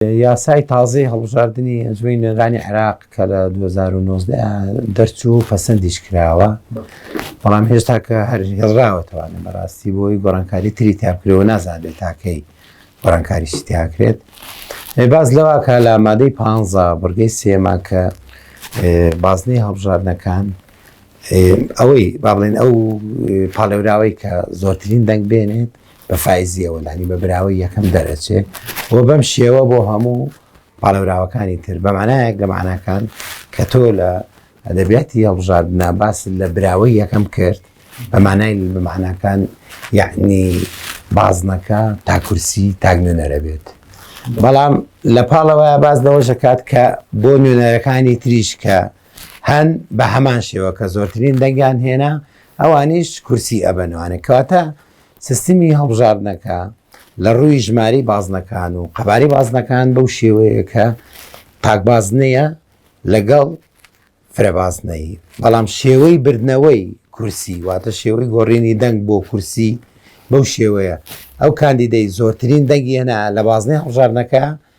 یاسای تازەی هەڵبژاردنی ئەنجومەنی نوێنەرانی عێراق کە لە 2019 دەرچوو پەسەندیش کراوە بەڵام هێشتا کە هەر هێڵراوەتەوانە بەڕاستی بۆی گۆڕانکاری تری تابکرەوە نازانێت تاکەی گۆڕانکاریشی تیاکرێت باز لەواکە لە مادەی پ بڕگەی سێما کە بازنەی هەڵبژاردنەکان ئەوەی با بڵێن ئەو پاڵێوراوەی کە زۆرترین دەنگ بێنێت بە فایزیەوە لانی بە براوەی یەکەم دەرەچێ و بەم شێوە بۆ هەموو پاڵەوراوەکانی تر بەمانایەک لە ماناکان کە تۆ لە ئەدەبیاتی هەڵبژاردنا باس لە براوەی یەکەم کرد بەمانای بەماناکان یعنی بازنەکە تاکورسی تاک نوێنەرە بێت بەڵام لە پاڵەوە باز لەوەشەکات کە بۆ نوێنەرەکانی تریش کە هەن بە هەمان شێوە کە زۆرترین دەنگیان هێنا ئەوانیش کورسی ئەبەنوانە کەواتە سیستمی هەڵبژاردنەکە لە ڕووی ژماری بازنەکان و قەباری بازنەکان بەو شێوەیە کە پاکبازنەیە لەگەڵ فرەبازنەی بەڵام شێوەی بردنەوەی کورسی واتە شێوەی گۆڕینی دەنگ بۆ کورسی بەو شێوەیە ئەو کاندیدەی زۆرترین دەنگی هێنا لە بازنەی هەڵژارنەکە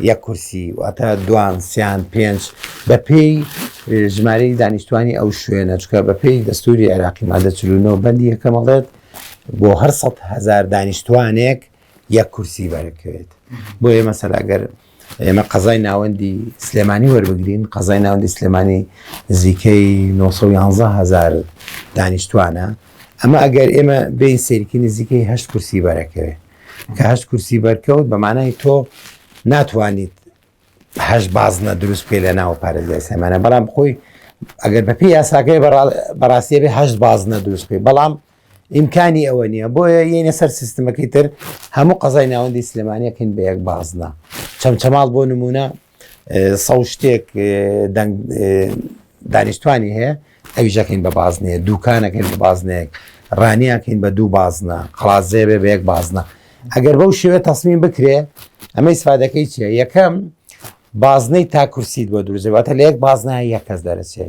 یەک کورسی واتە دوان سیان پێنج بە پێی ژمارەی دانیشتوانی ئەو شوێنە چکە بە پێی دەستوری عێراقی مادە چلونەوە بەندی یەکەمەڵێت بۆ هەر سە هزار دانیشتوانێک یەک کورسی بەرکرێت بۆ ئێمە سەراگەر ئێمە قەزای ناوەندی سلێمانی وەربگرین قەزای ناوەندی سلێمانی نزیکەی 911هزار دانیشتوانە ئەمە ئەگەر ئێمە بین سێرکی نزیکەی هەشت کورسی بەرەکەوێت کە هەشت کورسی بەرکەوت بە مانای تۆ ناتوانیت هەشت بازنە دروست پێ لە ناو پارێزگای سلێمانە بەڵام خۆی ئەگەر بەپی یاساکەی بەڕاستیە بێ هەشت بازنە دروست پێ بەڵام ئیمکانی ئەوە نییە بۆیە یەنە سەر سیستمەکەی تر هەموو قەزای ناوەندی سلێمانیەکەین بە یەک بازنە چەمچەماڵ بۆ نمونە سەو شتێک دەنگ دانیشتوانی هەیە ئەویژەکەین بە بازنەیە دوکانەکەین بە بازنەیەک ڕانیەکەین بە دوو بازنە قازێ بێ بەیەک بازنە ئەگەر بەو شێوێ تەسمیم بکرێ ئەمەی سفادەکەی چیە یەکەم بازنەی تاکوسیت بۆ دروزێواتە لە یەک بازنە یەک کەس دەرەچێ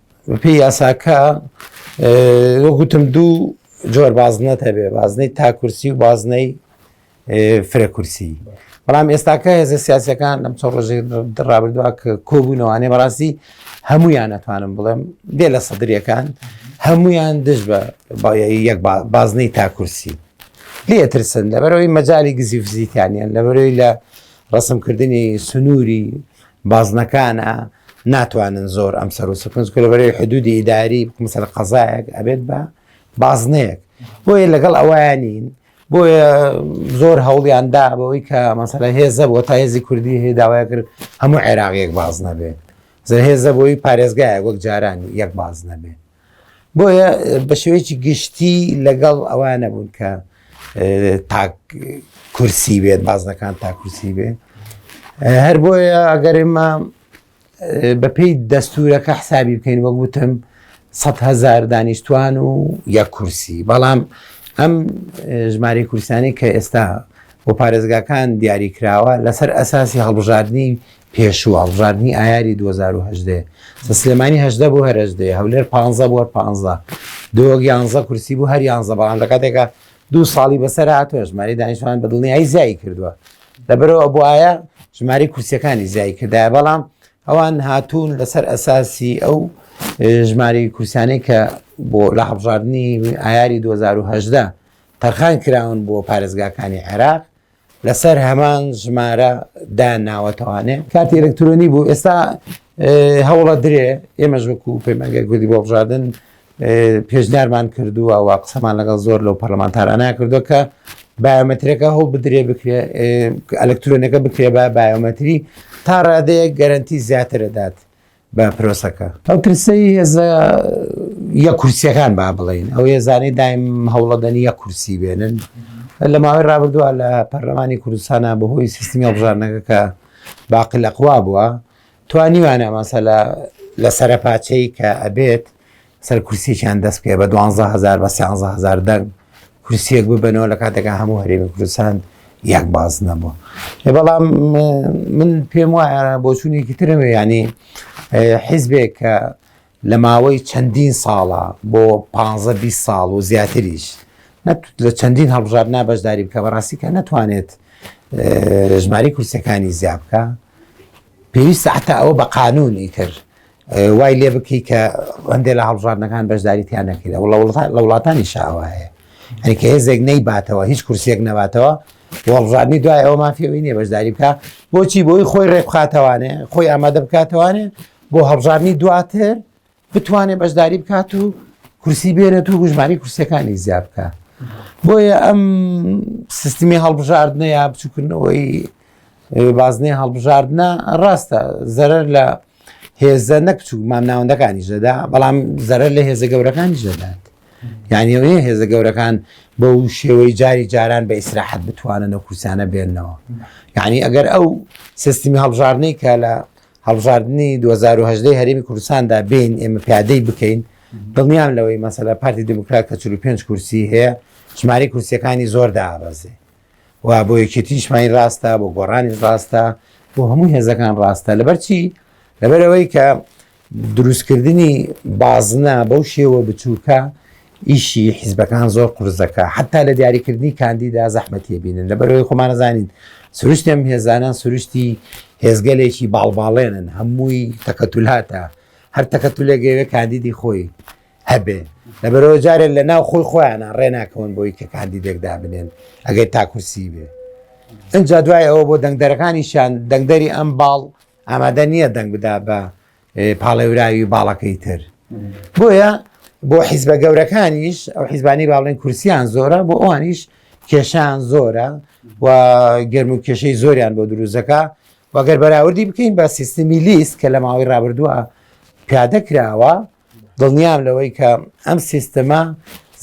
بەپی یاساکە وەگوتم دوو جۆر بازنەت هەبێ بازنەی تاکورسی و بازنەی فرەکورسی بەڵام ئێستاکە هێزە سیاسەکان لەم چۆ ڕۆژێ ڕابردووە کە کۆبوونەوانێ بەڕاستی هەمویان ناتوانم بڵێم دێ لە سەدرریەکان هەمویان دژ بە یەک بازنەی تاکورسی لێ ترسن لەبەرەوەی مەجای گزی فزیکانیان لەبەرەوەی لە ڕسمکردنی سنووری بازنەکانە ناتوانن زۆر ئەم سەر و سکن کولەبەرەی حدودی ئیداری بکمسەر قەزایەک ئەبێت بە بازنەیەک بۆیە لەگەڵ ئەویان نین بۆیە زۆر هەوڵیاندا بەوەی کە مەسەلە هێزە بۆ تا هێزی کوردی هەیە داوای کرد هەموو عێراقیەک باز نەبێت زە هێزە بۆی پارێزگایە وەک جارانی یەک باز نەبێت بۆیە بە شێوەیەکی گشتی لەگەڵ ئەوان نەبوون کە تاک کورسی بێت بازنەکان تاکوسی بێت هەر بۆیە ئەگەر ئێمە بەپی دەستورەکە حسابی بکەین وەک وتم 100هزار دانیشتوان و یا کورسی بەڵام ئەم ژماری کوردستانی کە ئێستا بۆ پارێزگاکان دیاری کراوە لەسەر ئەساسی هەڵبژاردننی پێشوو هەڵبژاردنی ئایاری 2010 سە سلێمانی هەدە بۆ هەرەجدێ هەولێر پ بۆ پ دۆگ یانزە کورسی بوو هەر یانزە بەڵام لە کاتێکە دوو ساڵی بەسەر هاتوە ژماری دانیشتوان بە دڵنیایی زیایی کردووە لەبەرەوە بۆ ئایا ژماری کورسەکانی زیای کردایە بەڵام ئەوان هاتوون لەسەر ئەساسی ئەو ژماری کورسانەی کە بۆ لە هەڵبژاردننی ئایاری 2010 تەرخان کراون بۆ پارێزگاکانی عێراق لەسەر هەمان ژمارە دا ناوەتەوانێ کاتی ئەلکترۆنی بوو ئێستا هەوڵە درێ ئێمەش وەکو پەیمانگە گوردی بۆ بژاردن پێشنیارمان کردووە و قسەمان لەگەڵ زۆر لەو پەرلەمانتارانە کردو کە بایۆمەترەکە هەوڵ بدرێ بکرێ ئەلکترۆنەکە بکرێ بە بایۆمەتری تا ڕادەیە گەرنتی زیاترەدات بە پرۆسەکە. ئەو کرسەی هێزە یە کورسیەکان با بڵین ئەو هێزانەی دایم هەوڵەدەنی یە کورسی بێنن لە ماوەی رابردووە لە پەرلەمانی کوردستانە بەهۆی سیستمی هەڵبژاردنەکە کە باقی لەقوا بووە توانیوانە مەسەلا لە سەرپاچەی کە ئەبێت سەر کورسیەکیان دەست پێ بە دوانزە هزار بە سیانزە هزار دەنگ کورسیەک ببنەوە لە کاتەکە هەموو هەرێمی کوردستان یەک باز نەبووە بەڵام من پێم وایە بۆچوونێکی ترم ینی حیزبێک کە لە ماوەی چەندین ساڵە بۆ 15 ساڵ و زیاتریش لە چەندین هەڵبژار نابەشداری بکە بەڕاستی کە ناتوانێت ژماری کورسەکانی زیابکە پێویستە حتا ئەوە بە قانونی تر وای لێ بکەی کە هەندێک لە هەڵبژاردنەکان بەشداری تیان نەکرێت وڵە لە وڵاتانی شاوایە ئەنیکە هێزێک نەی باتەوە هیچ کورسێک نەباتەوە وەڵژادنی دوای ئەو مافیەوەی نیە بەشداری بکە بۆچی بۆی خۆی ڕێبخاتەوانێ خۆی ئامادە بکاتەوانێ بۆ هەڵبژاردننی دواتر بتوانێ بەشداری بکات و کورسی بێنێت و گوژمانی کورسەکانی زیاد بکە بۆیە ئەم سیستمی هەڵبژاردنە یا بچووکردنەوەی بازنەی هەڵبژاردنە ڕاستە زەرەر لە هێزە نەکچوو مام ناوەندەکانی دەدا بەڵام زەرەر لە هێزە گەورەکانی دەدات یعنی ئەوەیە هێزە گەورەکان بە و شێوەی جاری جاران بە ئیسراحەت بتوانن و کوسانە بێنەوە یعنی ئەگەر ئەو سیستمی هەڵبژاردنەی کە لە هەڵبژاردننی 2010 هەرێمی کوردستاندا بین ئێمە پیادەی بکەین دڵنیام لەوەی مەسەلا پارتی دموکرات کە 45 کورسی هەیە ژماری کورسیەکانی زۆر دابەزێ و بۆ یەکێتی نیشمانی ڕاستە بۆ گۆڕانیش ڕاستە بۆ هەموو هێزەکان ڕاستە لەبەرچی لەبەرەوەی کە دروستکردنی بازنە بەو شێوە بچووکە ئیشی حیزبەکان زۆر قرزەکە حتا لە دیاریکردنی کاندیدا زەحمەتیە بینن لەبەرەوەی خۆمانەزانین سروشتم هێزانان سروشتی هێزگەلێکی باڵباڵێنن هەمووی تەکەتولاتە هەر تەکەتولێگەوێ کاندیدی خۆی هەبێ لەبەرەوە جارێن لە ناو خۆی خۆیانە ڕێناکەون بۆی کە کاندیدێک دابنێن ئەگەر تاکوسی بێ ئەجا دوای ئەوە بۆ دەنگدەرەکانیشان دەنگدەری ئەم باڵ ئامادە نییە دەنگ بدا بە پاڵێوراوی باڵەکەی تر بۆیە بۆ حیزبە گەورەکانیش ئەو حیزبانی باڵێن کورسیان زۆرە بۆ ئەوانیش کێشان زۆرە و گەرم و کێشەی زۆریان بۆ دروزەکە وەگەر بەراوردی بکەین بە سیستمی لیست کە لە ماوەی ڕابردووە پیادە کراوە دڵنیام لەوەی کە ئەم سیستەمە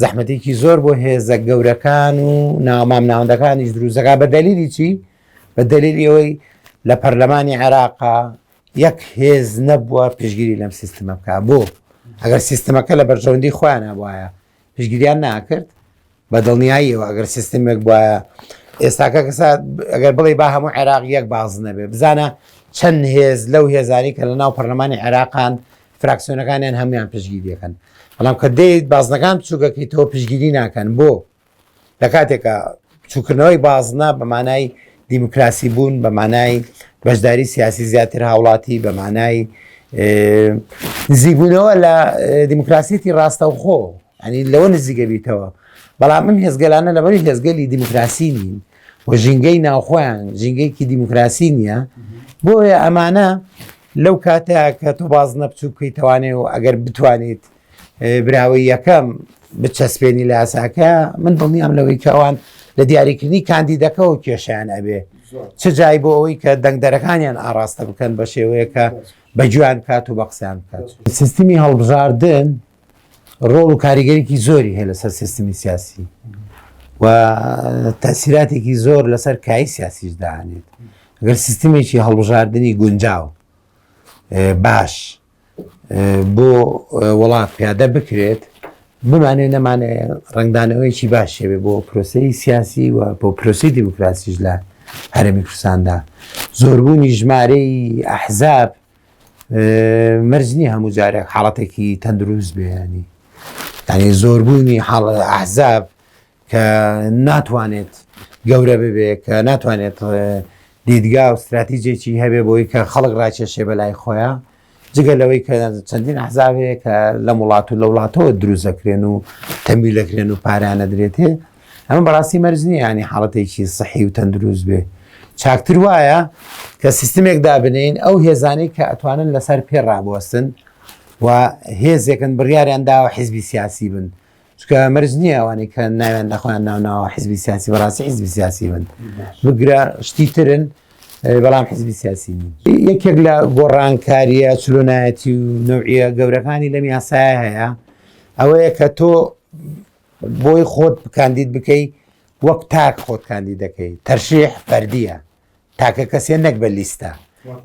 زەحمەتێکی زۆر بۆ هێزە گەورەکان و ناومام ناوەندەکانیش دروزەکە بە دەلیلی چی بە دەلیلی ئەوەی لە پەرلەمانی عێراقا یەک هێز نەبووە پشگیری لەم سیستمە بکە بۆ ئەگەر سیستمەکە لە بەرژەوەندی خۆیان هەبواە پشگیریان ناکرد بە دڵنیاییەوە ئەگەر سیستمێک بواە ئێستاکە کەسا ئەگەر بڵێ با هەموو عێراق یەک باز نەبێ بزانە چەند هێز لەو هێزاری کە لە ناو پەرلەمانی عێراقان فراکسیۆنەکانیان هەموان پشگیری دەکەن بەڵام کە دەیت بازنەکان بچووکەکەی تۆ پشگیری ناکەن بۆ لە کاتێکە چووکردنەوەی بازنە بە مانای دیموکراسی بوون بە مانای بەشداری سیاسی زیاتر هاوڵاتی بە مانای نزیبوونەوە لە دیموکراسیەتی ڕاستەوخۆ ئەنی لەوە نزیگە بیتەوە بەڵام من هێزگەلانە لەبەری هێزگەلی دیموکراسی نین و ژینگەی ناوخۆیان ژینگەیەکی دیموکراسی نییە بۆیە ئەمانە لەو کاتەیە کە تۆ باز نەپچوو بکەیت توانێ و ئەگەر بتوانیت براوەی یەکەم بچەسپێنی لە یاساکە من دڵنیام لەوەی کەوان لە دیاریکردنی کاندیدەکەەوە کێشیان ئەبێ چ جای بۆ ئەوەی کە دەنگدەرەکانیان ئاراستە بکەن بە شێوەیەکە بە جوان کات و بە قسەیان بکات سیستمی هەڵبژاردن ڕۆڵ و کاریگەریکی زۆری هەیە لەسەر سیستمی سیاسی و تەسیراتێکی زۆر لەسەر کای سیاسیش دانێت گەر سیستمێکی هەڵبژاردننی گونجاو باش بۆ وڵات پیادە بکرێت بمانێ نەمانێ ڕنگدانەوەیکی باشێبێ بۆ پرۆسی سیاسی و بۆ پرۆسی دیموکراسیش لە هەرمی کوردستاندا زۆربوونی ژمارەی ئەحزاب مەرج نییە هەموو جارێک حاڵەتێکی تەندروست بێنی ینی زۆربوونی حاڵ ئەحزاب کە ناتوانێت گەورە ببێ کە ناتوانێت دیدگا و استراتیجێکی هەبێ بۆی کە خەڵک ڕاکێشێ بە لای خۆیان جگە لەوەی کە چەندین عزاوەیە کە لە وڵات و لە وڵاتەوە دروست دەکرێن و تەمی دەکرێن و پارانە درێتێ ئەمە بەڕاستی مەرج نییە ینی حاڵەتێکی سەحی و تەندروست بێ چاکتر وایە کە سیستمێک دابنین ئەو هێزانەی کە ئەتوانن لەسەر پێ ڕابوەستن و هێزێکن بڕیاریان داوە حیزبی سیاسی بن چکە مەرج نییە ئەوانی کە ناوێن لەخۆیان ناوناوە حیزبی سیاسی بەڕاستی حیزبی سیاسی بن بگرە شتی ترن بەڵام حیزبی سیاسی یەکێک لە گۆڕانکاریە چلۆنایەتی و نوعە گەورەکانی لەم یاسای هەیە ئەوەیە کە تۆ بۆی خۆت کاندید بکەی وەک تاک خۆت کاندید دەکەی تەرشیح فەردیە تاکە کەسێ نەک بە لیستە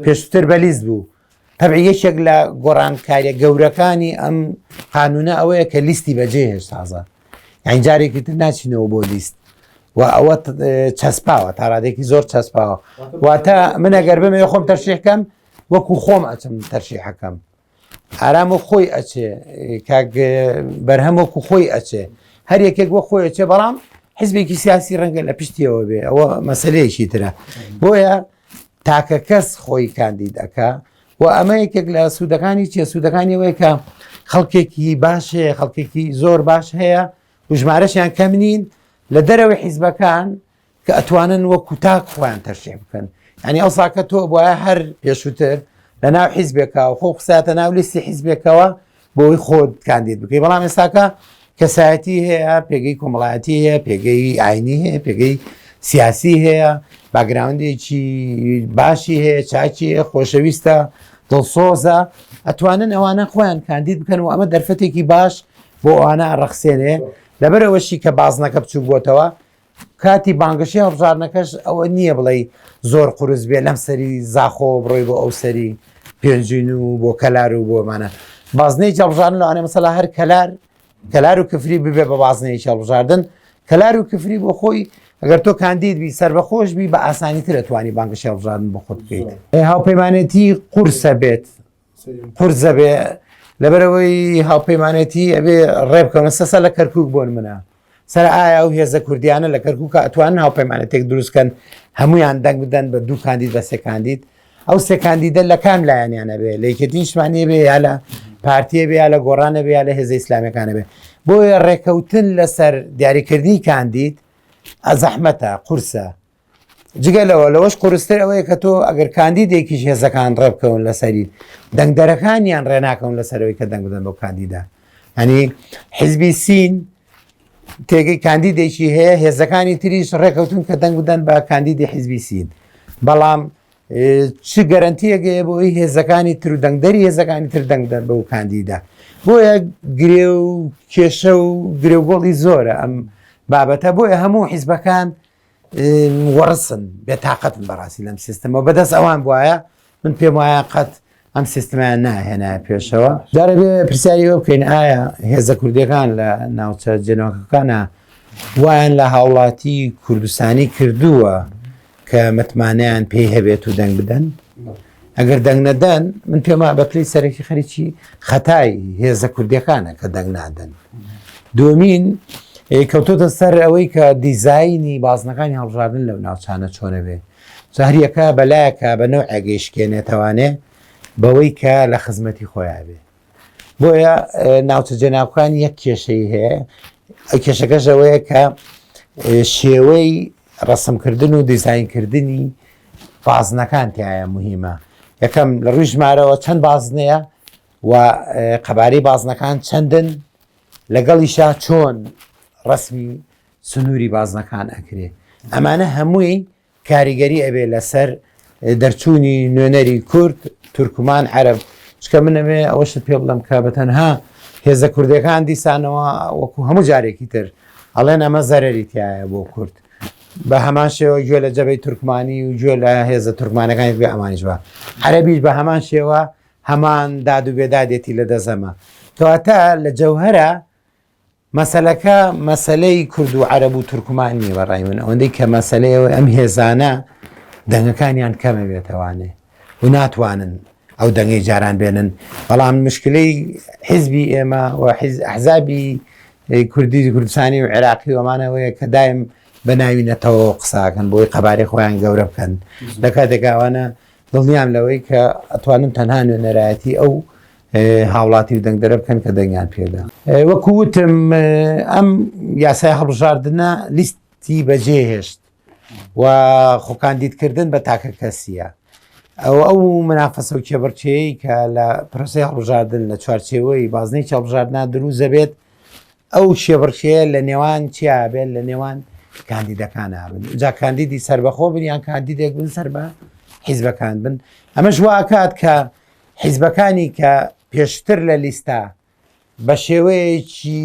پێشتر بە لیست بوو تەبع یەکێک لە گۆڕانکاریە گەورەکانی ئەم قانونە ئەوەیە کە لیستی بەجێ هێشت تازە ئەین جارێکی تر ناچینەوە بۆ لیست و ئەوە چەسپاوە تاڕادێکی زۆر چەسپاوە واتە منەگەر بمێ خۆم تەرشیحکەم وەکو خۆم ئەچم تەرشیحەکەم ئارام و خۆی ئەچێ کاک بەرهەم وەکو خۆی ئەچێ هەر یەکێک وە خۆی ئەچێ بەڵام حزبێکی سیاسی ڕەنگە لە پشتیەوە بێ ئەوە مەسلەیەکی ترە بۆیە تاکە کەس خۆی کاندید ئەکا و ئەمە یەکێک لە سوودەکانی چیە سوودەکانی وەیەکە خەڵکێکی باش هەیە خەڵکێکی زۆر باش هەیە وژمارەشیان کەم نین لە دەرەوەی حیزبەکان کە ئەتوانن وەکو تاک خۆیان تەرشێ بکەن ینی ئەو ساکە تۆ بواە هەر پێشووتر لە ناو حیزبێکەوە خۆ قساتە ناو لیستی حیزبێکەوە بۆی خۆت کاندید بکەی بەڵام ئێستاکە کەسایەتی هەیە پێگەی کۆمەڵایەتی هەیە پێگەی ئاینی هەیە پێگەی سیاسی هەیە باگراوندێکی باشی هەیە چاکی خۆشەویستە دڵسۆزە ئەتوانن ئەوانە خۆیان کاندید بکەن و ئەمە دەرفەتێکی باش بۆ ئەوانە ڕەخسێنێ لەبەرەوەشی کە بازنەکە بچوو بۆتەوە کاتی بانگەشەی هەڵبژاردنەکەش ئەوە نییە بڵێی زۆر قورس بێ لەم سەری زاخۆوە بڕۆی بۆ ئەو سەری پێنجوین و بۆ کەلار و بۆمانە بازنەی جەڵژان لەوانێ مەسەلا هەر کەلار کەلار و کفری ببێ بە بازنەیە هەڵبژاردن کەلار و کفری بۆ خۆی ئەگەر تۆ کاندید بی سربەخۆش بی بە ئاسانی تر ئەتوانی بانگەشە هەڵبژاردن بۆ خۆت بکەیت هاوپەیمانێتی قورسە بێت پرزە بێ لەبەرەوەی هاوپەیمانێتی ئەبێ ڕێبکەونە سەسە لە کەرکک بۆن منە سەر ئایا و هێزە کوردیانە لە کەرکک ئەتوان هاوپەیمانێتێک دروستکەن هەمویان دەنگ بدەن بە دوو کاندید بە سێکاندید ئەو سێکاندیدە لە کام لایەنیانە بێ لە یەکێتی نیشتمانی بێ یا لە پارتیە بێ یا لە گۆڕانە بێ یا لە هێزە ئیسلامەکانە بێ بۆیە ڕێکەوتن لەسەر دیاریکردنی کاندید ئەزەحمەتە قورسە جگە لەوە لەوەش قورستر ئەوەیە کە تۆ ئەگەر کاندیدێکیش هێزەکان ڕێبکەون لەسەری دەنگدەرەکانیان ڕێناکەون لەسەرەوەی کە دەنگ بدەن بۆ کاندیدا ئەنی حزبی سین تێگەی کاندیدێکی هەیە هێزەکانی تریش ڕێکەوتون کە دەنگ بدەن بە کاندیدی حزبی سین بەڵام چ گەرنتیەگەیە بۆی هێزەکانی تر و دەنگدەری هێزەکانی تر دەنگدەر بە و کاندیدا بۆیە گرێ و کێشە و گرێگۆڵی زۆرە ئەم بابەتە بۆیە هەموو حیزبەکان وەڕسن بێ تااقەتن بەڕاستی لەم سیستمەوە بەدەست ئەوان بواە من پێم وایە قەت ئەم سیستمیان ناهێنا پێشەوە دارەبێ پرسیاری ئەو بکەین ئایا هێزە کوردەکان لە ناوچە جێنەوەکەکانە وایان لە هاوڵاتی کوردستانی کردووە کە متمانیان پێی هەبێت و دەنگ بدەن ئەگەر دەنگ نەدەن من پێما بەپلی سەرەکی خەریکی خەتای هێزە کوردیەکانە کە دەنگ نادەن دومین کەوتۆتە سەر ئەوەی کە دیزایانی بازنەکانی هەڵژاردن لەو ناوچانە چۆنەبێ زاریەکە بەلایەکە بە نەو ئەگەیشکێنێتەوانێ بەوەی کە لە خزمەتی خۆیان بێ بۆیە ناوچە جەناوکان یەک کێشەی هەیە کێشەکەشەوەیە کە شێوەی ڕەسمکردن و دیزاینکردنی بازنەکان تایە مهمە یەکەم لە ڕووی ژمارەوە چەند بازنەیە و قەبارەی بازنەکان چەندن لەگەڵیشا چۆن ڕسمی سنووری بازنەکان ئەکرێ ئەمانە هەمووی کاریگەری ئەبێ لەسەر دەرچوونی نوێنەری کورد تورکمان عەرب چکە منەوێ ئەوەشت پێ بڵم کە بە تەنها هێزە کوردەکان دیسانەوە وەکو هەموو جارێکی تر ئەڵێن ئەمە زەرری تایە بۆ کورد بە هەمان شێوە گوێ لە جەبەی تورکمانی و گوێ لە هێزە تورکمانەکانی بێ ئەمانش بە عەربیش بە هەمان شێوە هەمان داد و بێدادێتی لە دەزەمە کەواتە لە جەوهرە مەسەلەکە مەسلەی کورد و عەرەب و تورکمان نیە بە ڕای من ئەوەندەی کە مەسلەیەوە ئەم هێزانە دەنگەکانیان کەمە بێتەوانێ و ناتوانن ئەو دەنگی جاران بێنن بەڵام مشکلەی حیزبی ئێمە و حزابی کوردی کوردستانی و عێراقی ومانەوەیە کە دایم بە ناوی نەتەوە قساکەن بۆی قەبارەی خۆیان گەورە بکەن لە کاتێکاوانە دڵنیام لەوەی کە ئەتوانن تەنها نوێنەرایەتی ئەو هاوڵاتی و دەنگدەرە بکەن کە دەنگیان پێدا وەکو وتم ئەم یاسای هەڵبژاردنە لیستی بەجێ هێشت و خۆکاندیدکردن بە تاکە کەسیە ئەو ئەو منافەسە و کێبڕچەیە کە لە پرۆسی هەڵبژاردن لە چوارچێوەی بازنەی چاڵبژاردنا دروزە بێت ئەو شێبڕچەیە لە نێوان چیا بێت لە نێوان کاندیدەکان بن جا کاندیدی سربەخۆ بن یان کاندیدێک بن سەر بە حیزبەکان بن ئەمەش واکات کە حیزبەکانی کە پێشتر لە لیستە بە شێوەیەکی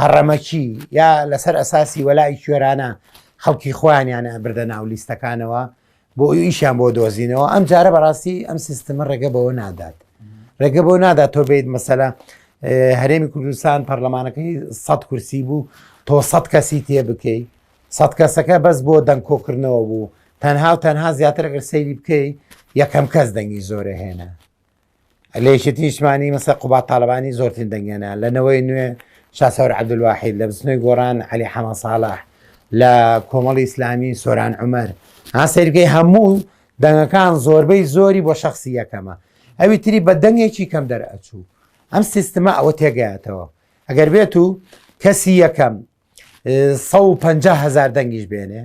هەڕەمەکی یا لەسەر ئەساسی وەلای کوێرانە خەڵکی خۆیانیانە بردە ناو لیستەکانەوە بۆ ئیشیان بۆ دۆزینەوە ئەم جارە بەڕاستی ئەم سیستمە ڕێگە بەوە نادات ڕێگە بۆ نادات تۆ بیت مەسەلا هەرێمی کوردستان پەرلەمانەکەی سە کورسی بوو تۆ سە کەسی تێ بکەیت سەد کەسەکە بەس بۆ دەنگ کۆکردنەوە بوو تەنها و تەنها زیاتر ئەگەر سەیری بکەی یەکەم کەس دەنگی زۆرە هێنا لەیشی تیشمانی مەسە قوبا تاالبانی زۆرترین دەنگێنا لە نەوەی نوێ شاسەور عبدواحید لە بستنەوەی گۆران علی حەمە ساڵح لە کۆمەڵی ئیسلامی سۆران عمر ها سەیرگەی هەموو دەنگەکان زۆربەی زۆری بۆ شخصی یەکەمە ئەوی تری بە دەنگێکی کەم دەرئەچوو ئەم سیستمە ئەوە تێگەاتەوە ئەگەر بێت و کەسی یەکەم سە و پ هزار دەنگیش بێنێ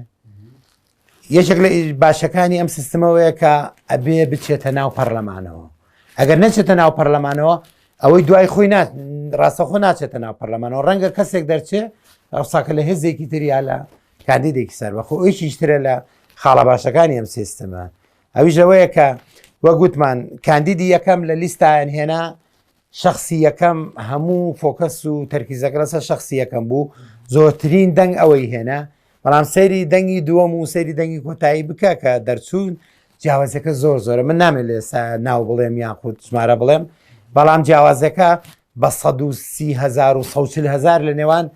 یەکێک لە باشەکانی ئەم سیستمەوەیە کە ئەبێ بچێتە ناو پەرلەمانەوە ئەگەر نەچێتە ناو پەرلەمانەوە ئەوەی دوای خۆی ڕاستەخۆ ناچێتە ناو پەرلەمانەوە ڕەنگە کەسێک دەرچێ ئەوساکە لە هێزێکی تریا لە کاندیدێکی سەر بەخۆ ئەویشیشترە لە خاڵە باشەکانی ئەم سیستمە ئەویش لەوەیە کە وە گوتمان کاندیدی یەکەم لە لیستایان هێنا شەخسی یەکەم هەموو فۆکەس و تەرکیزەکە لەسەر شەخسی یەکەم بوو زۆرترین دەنگ ئەوەی هێنا بەڵام سەیری دەنگی دووەم و سەیری دەنگی کۆتایی بکە کە دەرچوون جیاوازەکە زۆر زۆرە من نامێت لە ئێستا ناو بڵێم یان خود ژمارە بڵێم بەڵام جیاوازەکە بە 1940هزار لە نێوان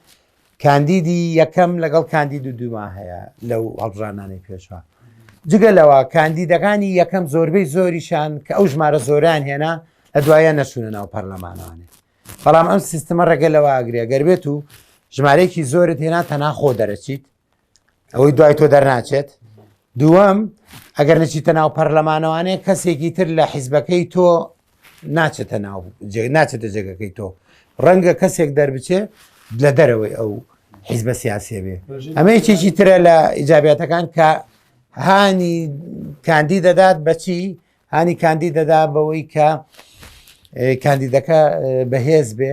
کاندیدی یەکەم لەگەڵ کاندید و دووما هەیە لەو هەڵبژاردنانەی پێشوە جگە لەوە کاندیدەکانی یەکەم زۆربەی زۆریشان کە ئەو ژمارە زۆران هێنا لە دوایە نەچوونە ناو پەرلەمانانێ بەڵام ئەم سیستمە ڕێگە لەوە ئەگرێ گەر بێت و ژمارەیەکی زۆرت هێنا تەناخۆ دەرەچیت ئەوەی دوای تۆ دەرناچێت دووەم ئەگەر نچیتە ناو پەرلەمانەوانەیە کەسێکی تر لە حیزبەکەی تۆ ناچێتە ناو ناچێتە جێگەکەی تۆ ڕەنگە کەسێک دەربچێ لە دەرەوەی ئەو حیزبە سیاسێ بێ ئەمە یەکێکی ترە لە ئیجاباتەکان کە هانی کاندی دەدات بەچی هانی کاندی دەدا بەوەی کە کاندیدەکە بەهێز بێ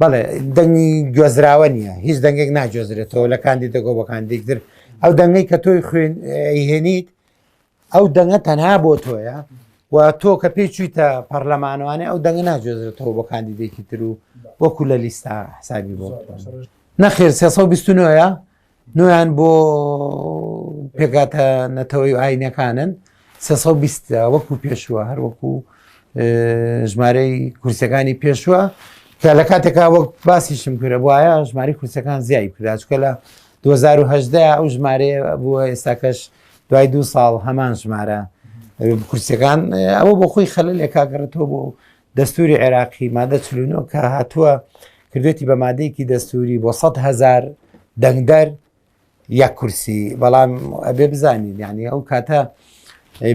بەڵێ دەنگی گوێزراوە نییە هیچ دەنگێک ناگوێزرێتەوە لە کاندی دەگۆ بۆ کاندێکتر ئەو دەنگەی کە تۆی خوێن هێنیت ئەو دەنگە تەنها بۆ تۆیە و تۆ کە پێی چویتە پەرلەمانوانێ ئەو دەنگە ناگوێزرێتەوە بۆ کاندیدێکی تر و وەکو لە لیستا حسابی بۆ نەخێر 329ە نۆیان بۆ پێکاتە نەتەوەی ئاینەکانن 320 وەکو پێشووە هەر وەکو ژمارەی کورسەکانی پێشووە کە لە کاتێکا وەک باسیشم کرە وایە ژماری کورسەکان زیای کرا چکە لە 2010 ئەو ژمارەیە بووە ئێستاکەش دوای دو ساڵ هەمان ژمارە کورسەکان ئەوە بۆ خۆی خەلە لێکاگەڕێتەوە بۆ دەستوری عێراقی مادە چل و نۆ کە هاتووە کردێتی بە مادەیەکی دەستوری بۆ سە هزار دەنگدەر یە کورسی بەڵام ئەبێ بزانین یعنی ئەو کاتە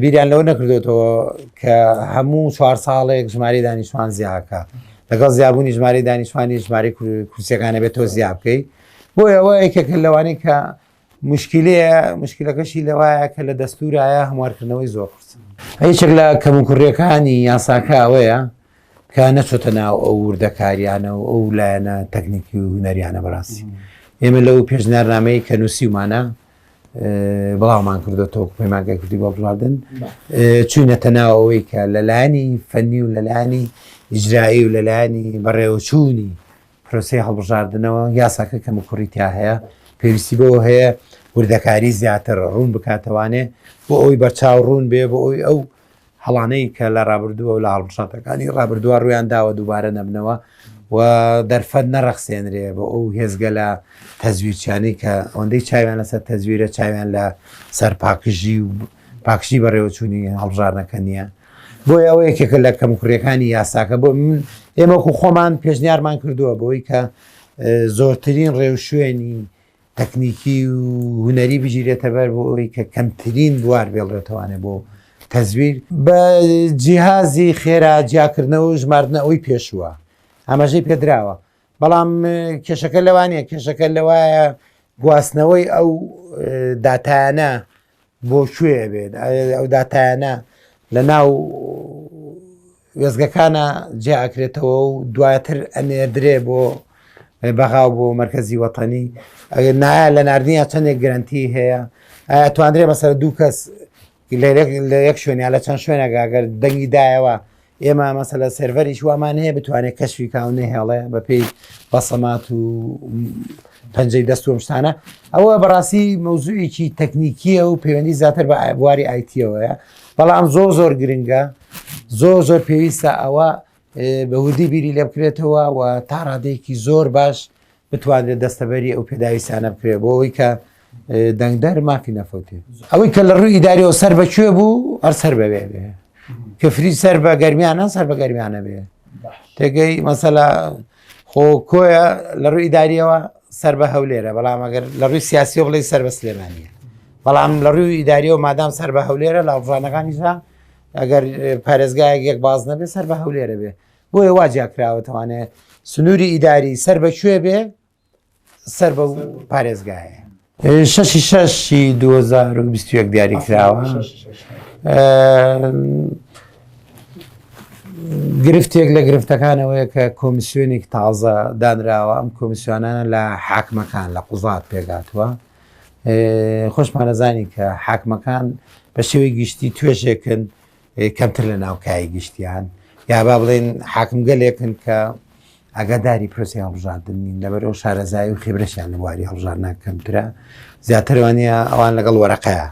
بیریان لەوە نەکردێتەوە کە هەموو چوار ساڵێک ژماری دانیشتوان زیاکە لەگەڵ زیابوونی ژماری دانیشتوانی ژماری کورسەکانە بێت تۆ زیاب بکەیت بۆ ئەوە یەکێک لەوانی کە مشکلەیە مشکلەکەشی لەوایە کە لە دەستورایە هەموارکردنەوەی زۆر قورس هیچێک لە کەموکوڕیەکانی یاساکە ئەوەیە کە نەچۆتە ناو ئەو وردەکاریانە و ئەو لایەنە تەکنیکی و هوەریانە بەڕاستی ئێمە لەو پێشنارنامەی کە نووسیمانە بڵاومان کردوەوە پەیمانگە کوردی بۆ بڵادن چوینەتە ناو ئەوەی کە لەلایانی فەنی و لەلایانی ئیجرایی و لەلایانی بەڕێوەچوونی پرۆسەی هەڵبژاردنەوە یاساکە کەموکوڕی تیا هەیە پێویستی بەوە هەیە وردەکاری زیاتر ڕوون بکاتەوانێ بۆ ئەوی بەرچاو ڕوون بێ بۆ ئەوی ئەو هەڵانەی کە لە ڕابردووە و لە هەڵبژاتەکانی ڕابردووە ڕویان داوە دووبارە نەبنەوە و دەرفەت نەڕەخسێنرێ بۆ ئەو هێزگە لە تەزویرچانی کە ئەوەندەی چاویان لەسەر تەزویرە چاویان لە سەر پاکژی و پاکشی بەڕێوەچوونی هەڵبژارنەکە نییە بۆیە ئەوە یەکێکە لە کەموکوڕیەکانی یاساکە بۆ من ئێمەکو خۆمان پێشنیارمان کردووە بۆی کە زۆرترین ڕێوشوێنی تەکنیکی و هوەری بگیرێتە بەر بۆ ئەوی کە کەمترین بوار بێڵێتوانێ بۆ تەزویر بە جیهازی خێرا جیاکردنەوە و ژماردنە ئەوی پێشووە ئەمەژەی پێدراوە بەڵام کێشەکە لەوانەیە کێشەکە لەوایە گواستنەوەی ئەو داتایانە بۆ کوێ بێت ئەو داتایانە لە ناو وێزگەکانە جێ ئەکرێتەوە و دواتر ئەنێدرێ بۆ بەغاو بۆ مرکزی وەتەنی ئەگەر نایە لە نردنیە چندێک گرنتی هەیە توانرێ بەسەر دوو کەس لە یەک شوێنیا لە چەند شوێنەگە گەر دەنگی دایەوە ئێمە مەسەلە سێرڤەریش وامان هەیە بتوانێت کەشوی کاو نەهێڵێ بەپی بەسەمات و پەنجەی دەستوم شتانە ئەوە بەڕاستی مەوزوعێکی تەکنیکیە و پەیوەندی زیاتر بە بواری ئایتیەوەیە بەڵام زۆ زۆر گرنگە زۆ زۆر پێویستە ئەوە بەوردی بیری لێ بکرێتەوە و تا ڕادێکی زۆر باش بتوانرێت دەستەبەری ئەو پێداویستانە بکرێت بۆ ئەوی کە دەنگدەر مافی نەفەوتێ ئەوەی کە لە ڕووی ئیداریەوە سەر بەکوێ بوو هەر سەر بەوێ بێ کەفری سەر بە گەرمیانە سەر بە گەرمیانە بێ تێگەی مەسەلا خۆ کۆیە لە ڕووی ئیداریەوە سەر بە هەولێرە بەڵام ئەگەر لە ڕووی سیاسی و بڵی سەر بە سلێمانە بەڵام لە ڕووی ئیداریەوە مادام سەر بە هەولێرە لە ئەڵژانەکانیشدا ئەگەر پارێزگایەک یەک باز نەبێ سەر بە هەولێرە بێ بۆیە وا جیاکراوەتەوانێ سنووری ئیداری سەر بە کوێ بێ سەر بە پارێزگایە شەشی شەشی 2021 دیاری کراوە گرفتێک لە گرفتەکانەوەیە کە کۆمیسیۆنێک تازە دانراوە ئەم کۆمیسیۆنانە لە حاکمەکان لە قوزات پێگاتوە خۆشمانەزانی کە حاکمەکان بە شێوەی گشتی توێشێکن کەمتر لە ناو کایەی گشتیان، یا با بڵێین حاکمگەلێکن کە ئاگاداری پرۆسەی هەڵبژاردن نین، لەبەرەوە شارەزایی و خێبرەشیان لە بواری هەڵبژاردنان کەمترە، زیاتر وانە ئەوان لەگەڵ وەرەقەیە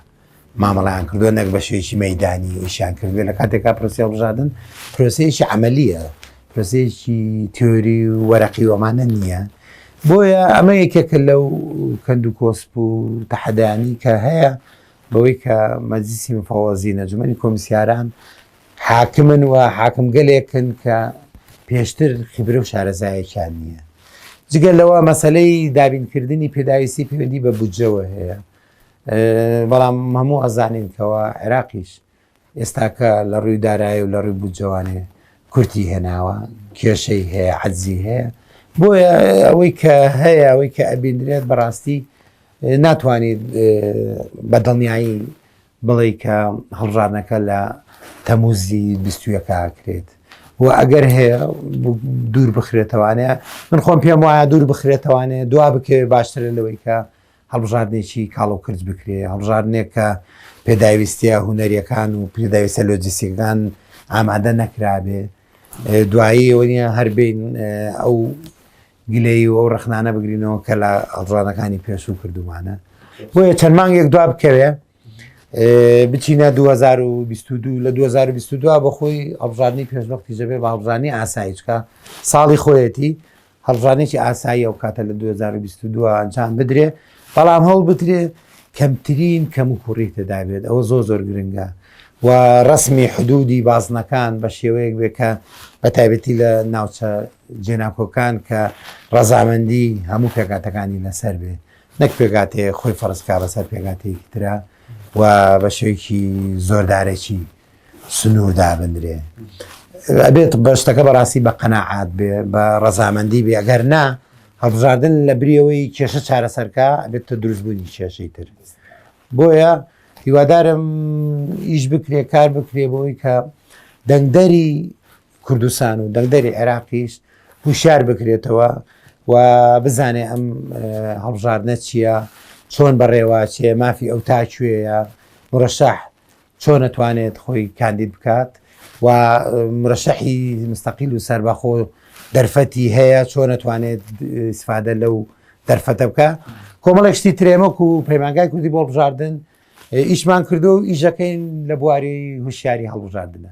مامەڵەیان کردووە نەک بە شێوەیەکی مەیدانی ئیشیان کردوێ لە کاتێکا پرۆسەی هەڵبژاردن پرۆسەیەکی عملیە پرۆسەیەکی تیۆری و وەرەقی وەمانە نییە بۆیە ئەمە یەکێکە لەو کەند و کۆسپ و تەحەدانی کە هەیە بەوەی کە مەجلیسی مفەوەزین، ئەنجومەنی کۆمیسیاران حاکمن و حاکمگەلێکن کە پێشتر خیبرە و شارەزایەکیان نییە. جگە لەوە مەسلەی دابینکردنی پێداویستی پەیوەندی بە بودجەوە هەیە بەڵام هەموو ئەزانین کەەوە عێراقیش ئێستاکە لە ڕووی دارایی و لە ڕووی بودجەوانێ کورتی هێناوە، کێشەی هەیە، عەجزی هەیە، بۆیە ئەوەی کە هەیە ئەوەی کە ئەبیندرێت بەڕاستی ناتوانیت بە دڵنیایی بڵێی کە هەڵبژاردنەکە لە تەموزی بیستویەکە ئاکرێت و ئەگەر هەیە دوور بخرێتەوانەیە من خۆم پێم وایە دوور بخرێتەوانەیە دوا بکەوێت باشترە لەوەی کە هەڵبژاردنێکی کاڵ و کرچ بکرێ، هەڵبژاردنێک کە پێداویستییە هونەرییەکان و پێداویستە لۆجستیکەکان ئامادە نەکرابێ دوایی ئەوە نیە هەر بین ئەو گلەی و ئەو ڕخنانە بگرینەوە کە لە هەڵژانەکانی پێشوو کردومانە بۆیە چەند مانگێک دوا بکەوێ بچینە 2022 لە 2022 بە خۆی هەڵبژاردننی پێشنەختی جەبێ بە هەڵبژانی ئاسایچکە ساڵی خۆیەتی هەڵبژانێکی ئاسایی ئەو کاتە لە 2022 ئەنجام بدرێ بەڵام هەوڵ بترێ کەمترین کەم و کوڕی تێدابێت ئەوە زۆر زۆر گرنگە و ڕسمی حدودی بازنەکان بە شێوەیەک بێ کە بە تایبەتی لە ناوچە جێناکۆکان کە ڕەزامەندی هەموو پێکاتەکانی لەسەر بێت نەک پێکهاتەیەک خۆی فەرز بکات بەسەر پێکهاتەیەکی ترە و بە شێوەیەکی زۆردارێکی سنوور دابنرێ ئەبێت بەشتەکە بەڕاستی بە قەنەعات بێ بە ڕەزامەندی بێ ئەگەر نا هەڵبژاردن لە بریەوەی کێشە چارەسەرکە ئەبێتە دروستبوونی کێشەی تر بۆیە هیوادارم ئیش بکرێ کار بکرێ بۆی کە دەنگدەری کوردستان و دەنگدەری عێراقیش هوشار بکرێتەوە و بزانێ ئەم هەڵبژاردنە چییە چۆن بەڕێواچێ مافی ئەو تاکوێیە مرەشەح چۆن نەتوانێت خۆی کاندید بکات و مرەشەحی مستەقیل و سربەخۆ دەرفەتی هەیە چۆن نەتوانێت سفادە لەو دەرفەتە بکە کۆمەڵێک شتی ترێمەک و پەیمانگای کوردی بۆ بژاردن ئیشمان کردو و ئیشەکەین لە بواری هوشیاری هەڵبژاردنە